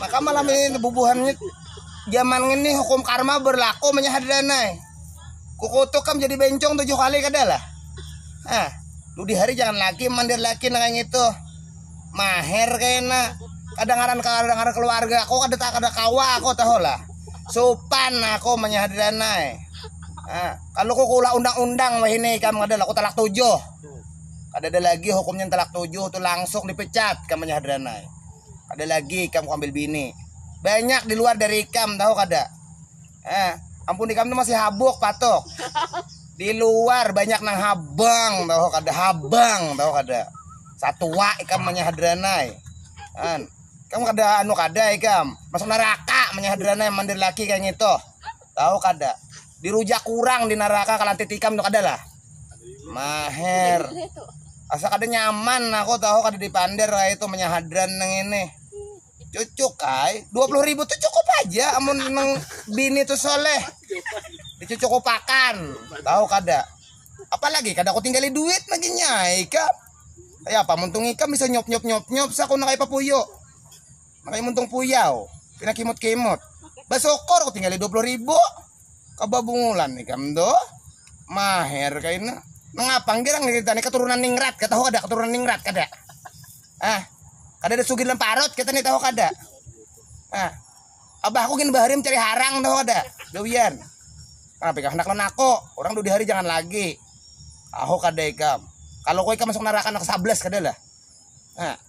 Maka malam ini bubuhannya zaman ini hukum karma berlaku menyahad danai. Kukutuk kam jadi bencong tujuh kali kada lah. Ah, lu di hari jangan lagi mandir laki nang kayak gitu. Maher kena. Kadangaran kadangaran keluarga aku kada kada kawa aku tahu lah. Supan aku menyahad danai. Ah, kalau kukulah undang-undang wahini kam kada lah aku talak tujuh. Kada ada lagi hukumnya talak tujuh tu langsung dipecat kam menyahad danai. Ada lagi ikam ku ambil bini. Banyak di luar dari ikam tahu kada? Eh, ampun ikam tuh masih habuk patok. Di luar banyak nang habang tahu kada habang tahu kada. Satua ikam manyahadranai. Kan. Kamu kada anu kada ikam. Masuk neraka manyahadranai mandir laki kayak gitu. Tahu kada? Dirujak kurang di neraka kalantit ikam tuh kada lah. maher asa kada nyaman aku tahu kada dipander kayak itu menyahadran neng ini cucuk kai dua puluh ribu tuh cukup aja amun neng bini tuh soleh dicucuk pakan tahu kada apalagi kada aku tinggali duit lagi nyai kak ya apa muntung ikam bisa nyop nyop nyop nyop saku nakai papuyo Makanya muntung puyau, pina kimut-kimut. Basukor ku tinggali 20 ribu. Kababungulan ikam tu. Maher kaina. Nangapang girang ni tani keturunan ningrat, kata ho kada keturunan ningrat kada. Ah, kada ada sugir lemparut kita ni tahu kada. Ah, abahku gin bahari mencari harang tahu kada. Dowian. Kenapa ikam hendak lenako? Orang dua hari jangan lagi. Tahu kada ikam. Kalau kau ikam masuk neraka anak 11 kada lah. Ah.